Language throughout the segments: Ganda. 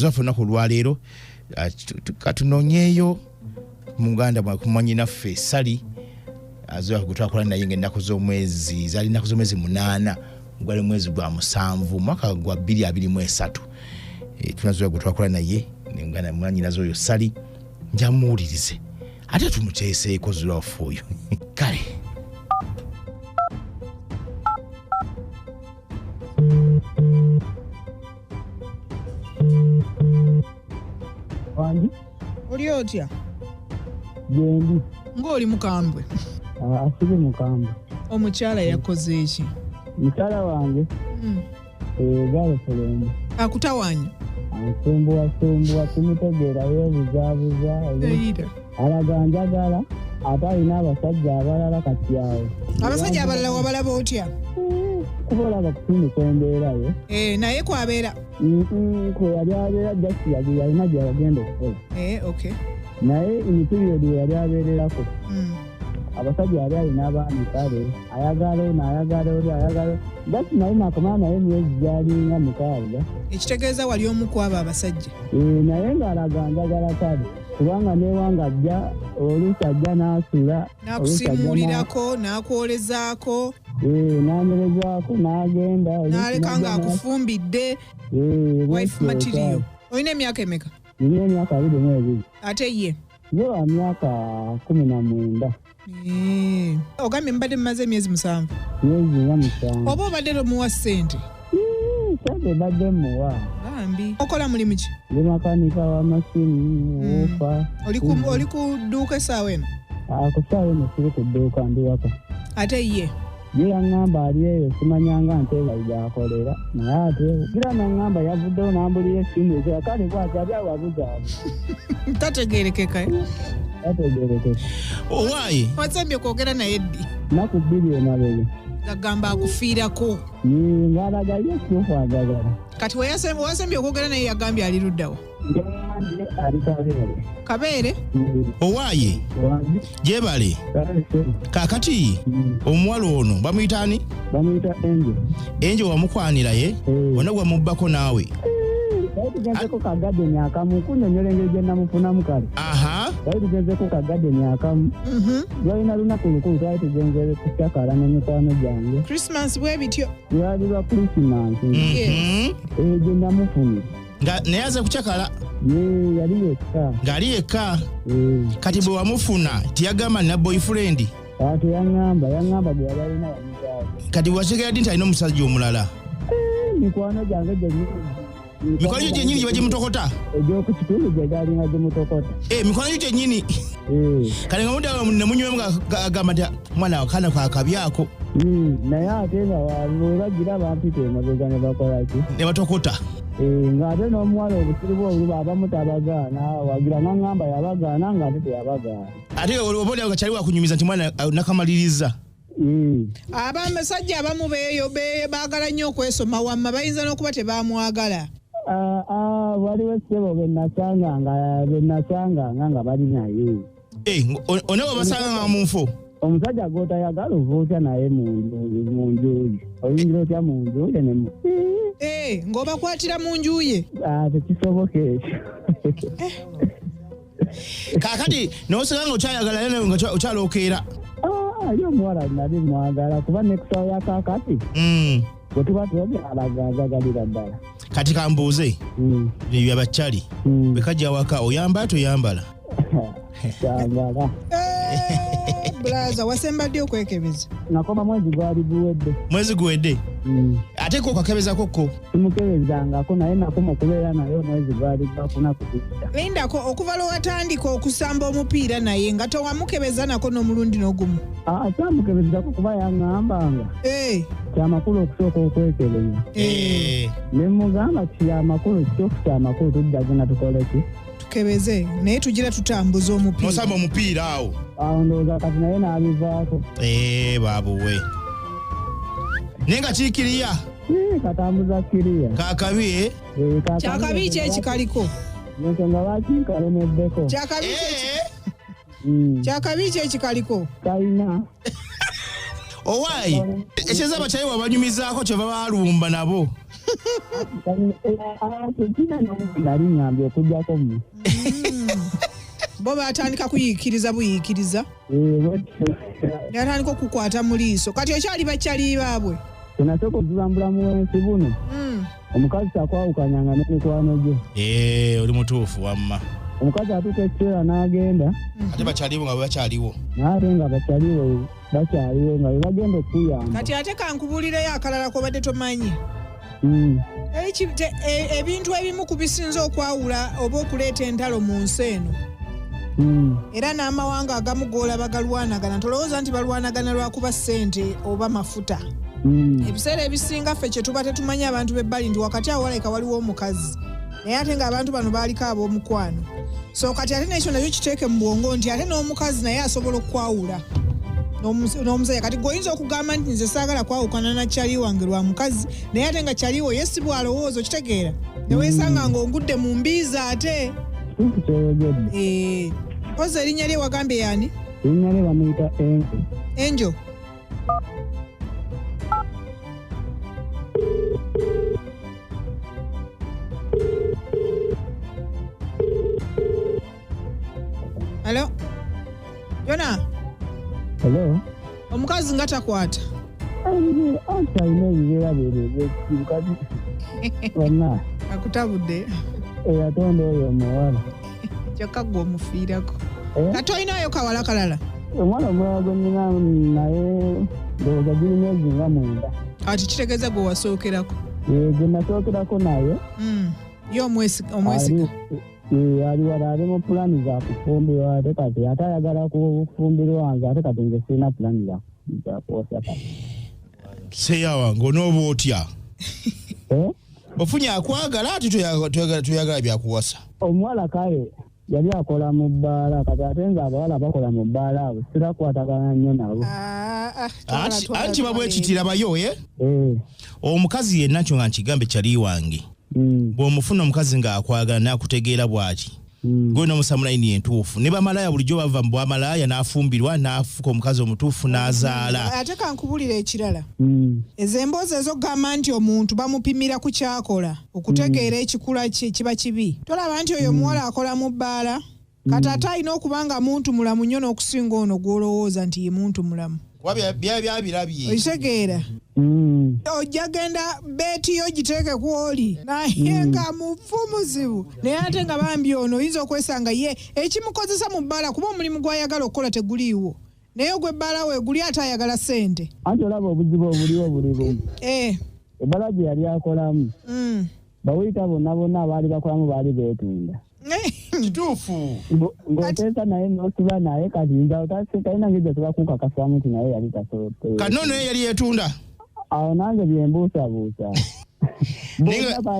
zaffe olunaku olwaleero ah, katunonyeeyo muganda mwanyinaffe sali azoa gwetwakola naye nga ennaku z'omwezi zali ennaku z'omwezi munaana gwali mwezi gwa musanvu mwaka gwa bbiri abiri mu esatu eh, tunazoa gwetwakola naye nemuganda mwanyinaze oyo sali njamuwulirize ate tumuteeseeko zulafu oyo kale wangi oli otya gyendi ng'oli mukambwe Ah, asiri mukambwe omukyala yakoze eki mukyala wange Mm. egalosolombo akutawanya ansumbuwasumbuwa kimutegeera yeebuzaabuza era alaga njagala ate alina abasajja abalala kati awo abasajja abalala wabalaba otya kuba olaba kusinduka embeera ye eh, naye kwabeera kwe yali abeera jasi yalina gyeyagenda okukola eh, naye emipiriyodi weyali abeererako hmm. abasajja yali alina abaami kale ayagala ono ayagala oli ayagala jasi naye nakomala naye myezi gyalinga mukaaga ekitegeeza wali omu kwabo abasajja eh, naye ng'alaga njagala kale kubanga newanga ajja oluusi ajja n'asula n'akusimuulirako n'akwolezaako eh, n'anyerezaako n'agenda n'aleka nga akufumbidde eh, wife material olina emyaka emeka nina emyaka abiri mu ebiri ate ye yo wa myaka kumi na mwenda Eh, ogambye mubadde mumaze emyezi musanvu myezi nga musanvu oba obadde tomuwa ssente Mm, sente badde muwa bambi okola mulimu ki ndi makanika w'amasimu wuufa Oli ku- oli ku dduuka essaawa eno akusaawa eno siri ku dduuka ndi waka ate ye Ye yaŋŋamba ali eyo simanyanga nte wayi gyakolera naye ate gira naŋŋamba yavuddewo n'ambulira essimu ekira kale bwati ali awo abuzaabu tategeerekeka eh? tategeerekeka owaayi wasembye kwogera naye ddi naku bbiri emabega gagamba akufiirako ng'alaga ye kyokwagagala kati wasembye okwogera naye yagambye ali luddawa kabeere owaaye gyebale kakati omuwala ono bamuyita ani enje wamukwanira ye eh. ona gwamubbako naawe tugenzeko ka gadeni akamu kunyonyola engeri gyenamufunamu kale twali tugenzeko ka gadeni akamu lwalina mhm. lunaku lukulu twali tugenzere kucakala ne mikwano gyange lwali lwa krisimansi mhm. egyo eh, namufunye nga naye aze kucakala yali yekka ng'ali yekka kati bwe wamufuna teyagamba nina boyfriend teyaŋamba yaŋamba bwe yali alina wamuzaawe kati wategera ddi nti alina omusajja omulala eh, mikwano gyange gyenyi mikwano gyo gyenyini gye bagimutokota egyokukitundu gye galina gimutokota eh, mikwano gyo gyenyini eh. kati nga mudala nemunywemu agamba nti mwana wakana kakabi ako hmm, naye ate nga webagiraba mpita emabega ne bakolaki ne batokota Eh, ng'ate n'omuwala obusiru bwe oluba abamu tabagaana wagira n'aŋŋamba yabagaana ng'ate teyabagaana ate oba olyawo nga kyali wakunyumiza nti mwana uh, nakamaliriza Hmm. abasajja abamu beeyo be- baagala nnyo okwesoma wamma bayinza n'okuba tebamwagala Ah, ah, waliwo ssebo be nasanganga be nasanganga nga bali naye Eh, one wabasanga nga munfo omusajja gwotayagala ova otya naye munjuye oyingira otya munjuye nemu eh, ngaobakwatira munjuye ah, tekisoboka ekyo eh. kakati nosanga nga okyayagala yene nga okyalokeera ah, ali omuwala nali mwagala kuba nekusawo yakakati mm. bwe tuba tubabyalagazagalira ddala kati kambuuze hmm. ebyo abakyali hmm. bwe kajja waka oyamba toyambala kyambala bulaza wasemba ddi okwekebeza nakoma mwezi gwali guwedde mwezi guwedde mm. ate ko okakebezako ko simukebezangako naye nakoma okubeera naye omwezi gwali gwakuna kukisa lindako okuva lwe watandika okusamba omupiira naye nga towamukebeza nako n'omulundi n'ogumu akyamukebezako kuba yaŋŋambanga Eh, kyamakulu okusooka okwekebeza Eh, ne mugamba kyamakulu kituufu kyamakulu tuddagenda tukoleki tukebeze naye tugira tutambuza omupiira nosamba omupiira awo awo ndowooza kati naye n'abivaako Eh, babuwe naye nga kikiriya Ii, katambuza kiriya kakabi eh? Eh, kakabi- kyakabi ki ekikaliko nensonga lwaki nkalemeddeko kyakabi ki Eh, Mm. kyakabi ki ekikaliko Talina. owaayi ekyeza abakyayi wabanyumizaako kyeva balumba nabo Talina. Eh, ah, tekina n'omuntu ali ng'ambi okujjako mu. bo batandika kuyiikiriza buyiikiriza Eh, bwetyo. natandika okukwata mu liiso kati okyali bakyali baabwe Tunasooka okuzambula mu bwensi buno. Mm. omukazi takwawukanyanga ne mikwano gye ee eh, oli mutuufu wamma omukazi atuuka ekiseera n'agenda mm-hmm. ate bakyaliwo nga bwebakyaliwo naye ate nga bakyaliwo bakyaliwo nga bebagenda okuyamba kati ate kankubuulireyo akalala kobadde tomanyi mm. e, ebintu ebimu ku bisinza okwawula oba okuleeta entalo mu nsi eno mm. era n'amawanga agamu goolaba galwanagana tolowooza nti balwanagana lwakuba ssente oba mafuta mm. ebiseera ebisinga ffe kyetuba tetumanyi abantu bebbali nti wakati awo walabika waliwo omukazi naye ate nga abantu bano baaliko ab'omukwano so kati ate nekyo nakyo kiteeke mu bwongo nti ate n'omukazi naye asobola okukwawula n'omusajja kati gweoyinza okugamba nti nze saagala kwawukana na kyali wange lwa mukazi naye ate nga kyaliwo ye si bwalowooza okitegeera neweesanga nga ongudde mu mbiizi ate eh, oza erinnya lye wagambye yaani erinnya lye bamuyita enjo enjo Hello? Yona? Hello? Omukazi nga takwata. Anta ine yera bere bere kati. Wana. Akutabudde. Eyatonda oyo omuwala. kyokka gwe omufiirako eh? kati olinayo kawala kalala omwana omulala gwe nina naye ndowooza giri myezi nga mwenda kati kitegeeza gwe wasookerako eh, gwe nasookerako naye hmm. ye omwesiga eh, ali wala ali mu pulaani za kufumbirwa ate kati ate ayagala kufumbirwa nze ate kati nze sirina pulaani za kuwosa kati seyawa ng'onooba otya ofunye akwagala ati tuyagala byakuwasa omuwala kale yali akola mu bbaala kati ate nga abawala bakola mu bbaala abo sirakwatagana nnyo nabo ah, ah, anti babwekitira bayo e eh? eh. omukazi yenna kyo nga nkigambe kyali wange mm. bw'omufuna omukazi ng'akwagala nakutegeera bwaki Mm. gwe nomusamulayini yentuufu ne bamalaya bulijjo bava mu bwamalaya n'afumbirwa n'afuka omukazi omutuufu n'azaala mm. ate kankubulira ekirala mm. ezo emboozi ezokugamba nti omuntu bamupimira ku kyakola okutegeera ekikula kye kiba kibi tolaba nti oyo omuwala akola mu bbaala kati ate alina okuba nga muntu mulamu nnyo n'okusinga ono gw'olowooza nti ye muntu mulamu kuba bya- bya- byabirabye okitegeera Mm. ojja genda beeti yo giteeke ku oli naye nga mufu muzibu naye ate nga bambi ono oyinza okwesanga ye ekimukozesa mu bbaala kuba omulimu gw'ayagala okukola teguliiwo naye ogw'ebbaala we guli ate ayagala ssente anti olaba obuzibu obuliwo buli bumu Eh, ebbala gye yali akolamu mm. baweyita bonna bonna abaali bakolamu baali beetunda kituufu Ngo- ng'oteesa naye n'osiba naye kati nze otase talina ngeri gye tuba kukakasamu nti naye yali tasobote kati nono yali yetunda awo nange byembuusabuusa Naye nga-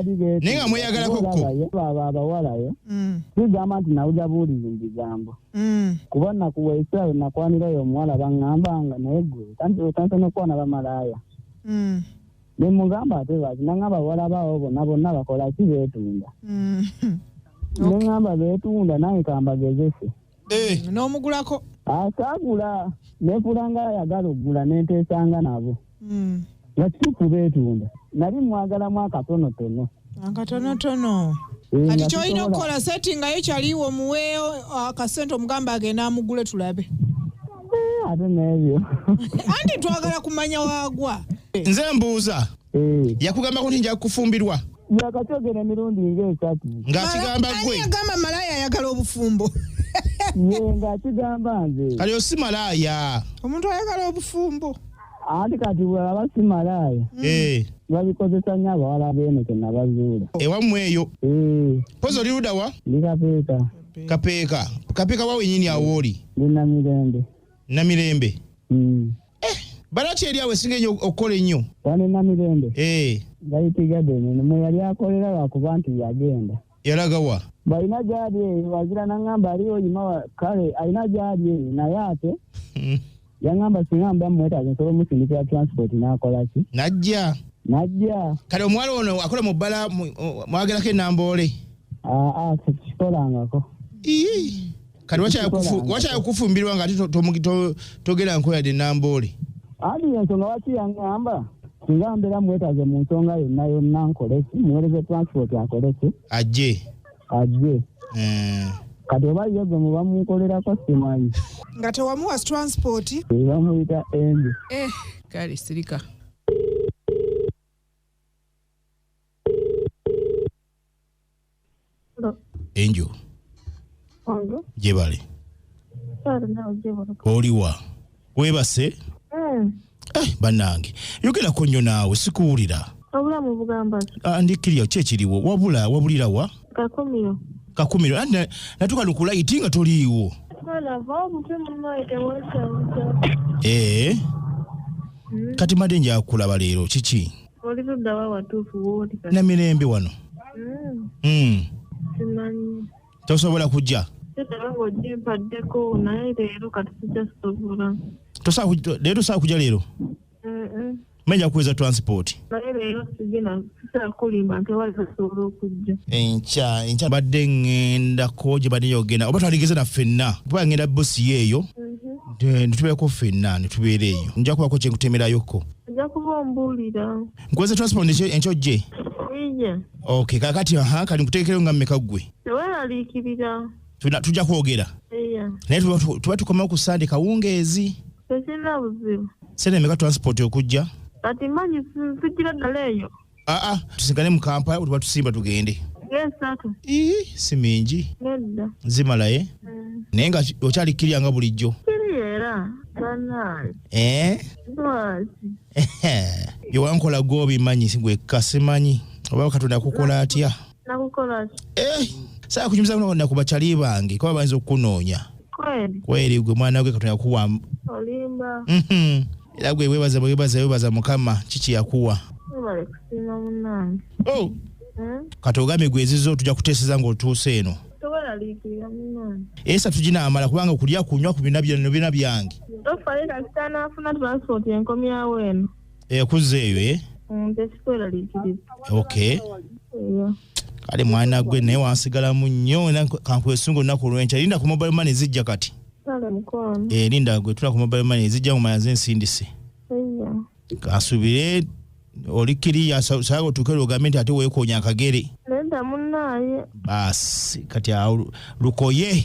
naye nga mweyagalako kko. baba abawalayo Mm, sigamba nti nawulira buwulizi mu bigambo mm. kuba nakuwa esaawe nakwanirayo omuwala baŋŋamba nga naye gwe tansobola okwana bamalaaya Mm. Ne mugamba ate lwaki nangamba bawala baawo bonna bonna bakola ki beetunda. Mm. Ne ngamba beetunda naye kambagezese. Eh. Mm, n'omugulako. Asaagula neefula nga ayagala okugula ne nteesanga nabo. Mm. Nga kituufu beetunda. Nali mmwagalamu akatonotono. akatonotono Eh, kati nga kyolina sisobola. okukola settingayo kyaliwo muwe akasente omugambe agenda amugule tulabe Eh, ate n'ebyo anti twagala kumanya wagwa nze mbuuza Eh, yakugambako nti nja kufumbirwa yakakyogera emirundi ng'esatu ng'akigamba Mala- gwe ani yagamba malaya ayagala obufumbo ye ng'akigamba nze kati osi malaaya omuntu ayagala obufumbo anti kati bwebaba si malaaya Eh, babikozesa nnyo abawala beeno kyenabazuula ewammwe eyo Eh, pozi oli luda wa ndi kapeeka kapeeka kapeeka wa wenyini awo oli ndi namirembe namirembe Mm. balaki eri awo esinga enyo okukola ennyo wano e namirembe Eh, gayitigadeni mwe yali akolera lwakuba nti yagenda yalaga wa? Mbu alina gyali eyo wazira nangamba aliyo yimawa kale alina gyali eyo naye ate hmm. yangamba singa mba mumwetaaza nsobola omusindikira transport nakola ki najja najja kale omuwala ono akola mu bbala mwagerako enamboole aa ah, ah, sikikolangako kati wakyaya kufumbirwa nga ate togera nkoya de namboole andi yensonga waki yangamba singa mbeera mwetaze mu nsonga yonna yonna nkoleki muwereze transport akoleki ajje ajje eh. kati oba ye gwe muba munkolerako simanyi nga tewamuwa transport ebamuyita endi eh, kale sirika enjo gyebale oliwa webase eh. eh, banange yogerako nnyo naawe sikuwulira obulamu bugamba ah, ndikiriyo kyekiriwo wabula wabulira wa kakumiro kakumiro natuka nukulaiti nga toliiwo ee eh. mm. kati made njakulaba leero kiki Oli ludda wa watuufu wooli kati? Namirembe wano. Mm, Mm. simanyi. Tosobola kujja. Kitaba ng'ogyimpaddeko naye leero kati sijja sobola. Tosaa kuj- leero saa kujja leero. Mm-mm. Menya kuweza transport. Naye leero sigina sisaa kulimba nti wali tasobola okujja. enkya enkya badde ŋŋendako gye badde yogenda oba twandigeze na ffenna kuba ŋŋenda busi yeeyo Mhm. ne tubeerako ffenna ne tubeera eyo nja kubako kye nkutemerayokko Nja kuba ombuulira. Nkuweze transport enkyojje? Iye. Okay, kakati aha kali nkuteekereyo nga mmeka ggwe? Teweeraliikirira. Tujja kwogera? Iye. Naye tuba tukomawo ku Sande kawungeezi? Tekirina buzibu. Sente meka transport okujja? Kati mmanyi sijjira ddala eyo. aa ah, ah, tusigale mu kampala wetuba tusimba tugende si mingi zimalaye mm. naye nga okyali kirya nga bulijjo eh? byewankola gwobimanyi gwekka simanyi oba katonda kukola atya nakukola ki Eh, saa kunyumiza kuno na kubachali bange kuba bayinza okukunoonya kweli kweri gwe mwana gwe katonda yakuwa olimba Mhm. era gwe webaza webaza webaza mukama kiki yakuwa webale kusiima munange oh. Eh? kati ogambe gwe ezizo tujja kuteeseza ng'otuuse eno toweraliikirira munange esa tuginaamala kubanga okulya kunywa ku bina byano bina byange tofayo kasita naafuna transport enkomyawo eno ekuzza eyo e ok kale mwana gwe naye wansigalamu nnyo kankwesunga olunaku olwenkya linda ku mobile money zijja kati eh, linda gwe tula ku mobile money zijja mumala ze nsindise kansubire oli kiriya saga otuuke lwogambe nti ate weekoonya akagere baasi kati awo lukoye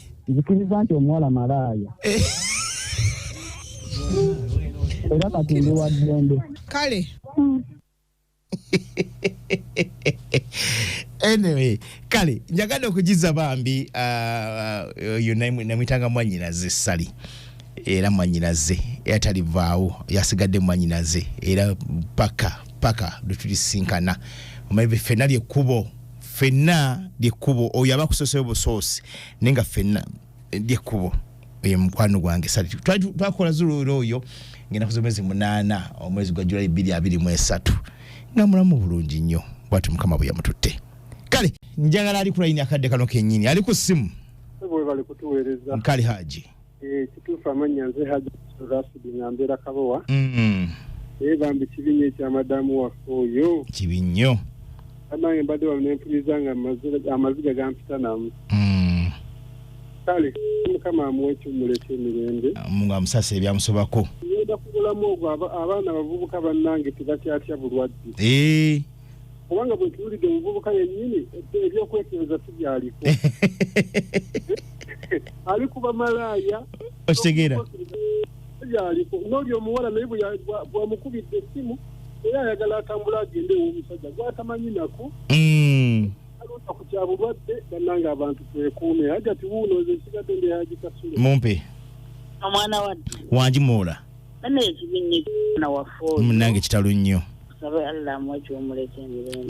nzikiriza nti omuwala malaaya eh. era kati ndi wa ddembe kale anyway kale njagadde okugiza bambi uh, uh, oyo namwitanga mwanyinaze sali era mwanyinaze era talivaawo yasigadde mwanyinaze era paka paka lwetulisinkana omabe fenali ekkubo fenna lyekkubo oyo aba kusoseyo busoosi naye nga fenna eh, lyekkubo oyo mukwano gwange sali twakola zuluula oyo ngenda kuza omwezi munaana omwezi gwa julayi bbiri abiri mu esatu nga mulamu bulungi nnyo bwati mukama bwe yamututte kale njagala ali kulayini akadde kano kennyini ali ku ssimu kale haji Eh, kituufu amannya nze haji rasidi nga mbeera kabowa Mm, naye bambi kibi nnyo ekya madamu waffe oyo kibi nnyo abange mbadde wano nempuliriza nga amazi- amaziga gampita namu Mm, kale mukama amuwa ekiwumulo ekyemirembe mungu amusasa ebyamusobako ngenda kubulamu ogwo aba- abaana abavubuka bannange tebakyatya bulwadde Eh, kubanga bwe tuwulidde omuvubuka yennyini ebyokwekebeza tubyaliko ali kuba malaaya okitegeera tubyaliko n'oli omuwala naye bwamukubidde essimu era ayagala atambula agende ew'omusajja gwatamanyi nako hmm. alonda ku kya bulwadde bannanga abantu twekuume hajati wuuno nze nsigadde ndeyagikasule mumpe omwana wadde wangi muula munange kitalo nnyo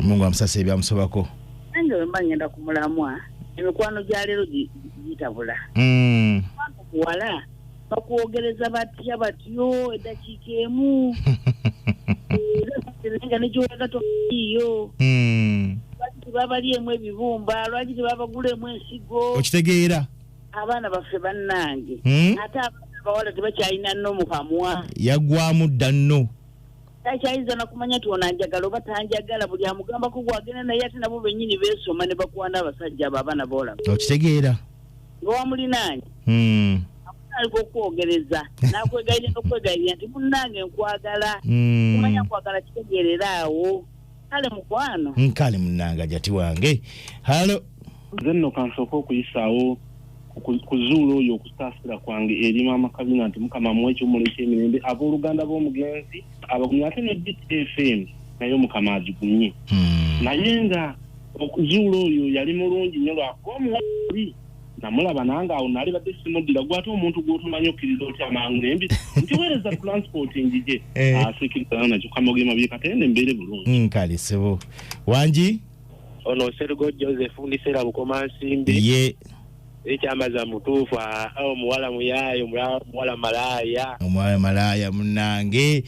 mungu amusasa ebyamusobako nange wemba ngenda ku mulamwa emikwano gya leero gitabula hmm. wala bakwogereza batya batyo eddakiika emu nga negiwaga toiyo hmm. lwaki tebabaliemu ebibumba lwaki tebabagulemu ensigo okitegeera abaana baffe bannange hmm? ate abaana bawala tebakyalina no mukamwa yagwamu dda nno takyayinza nakumanya ti ono anjagala oba tanjagala buli amugambako gwagenda naye ate nabo benyini besoma ne bakwana abasajja abo abaana boolaba okitegeera nga wamulinaanyi hmm. amusaaliga okwogereza nakwegayirira nokwegayirira nti munnange nkwagala hmm. kumanya nkwagala kitegeerera awo kale mukwano nkale munanga jati wange halo nze nno kansooka okuyisaawo kuzuula oyo okusaasira kwange eri maama kabina nti mukama mu ekiwumulo ekyemirembe abooluganda b'omugenzi abagumye ate ne btfm naye mukama agigumye hmm. naye nga okuzuula oyo yali mulungi nyo lwakuba omuwali namulaba nange awo nali badde simuddira gwate omuntu gwotomanyi okkiriza otya amangu nembi ntiweereza transport njije eh. asikiriza nakyo kamogema byekatende mbeere bulungi mm, kale sebo wangi ono sergo joseph ndiseera bukomansimbi ye ekyamaza mutuufu omuwala muyaayo muwala malaaya omuwala malaaya munange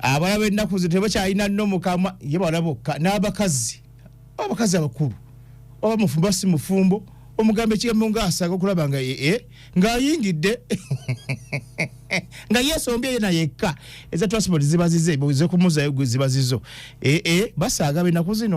abalabe ennaku ze tebakyalina nomukamwa ye bawala bokka n'abakazi abakazi abakulu oba mufumbo si mufumbo omugamba ekigambo ngaasaga okulaba nga ee eh, ngaayingidde nga yesombye yena yekka eza transport zibazize zekumuzayo zibazizo ee eh, eh, basaaga benaku zino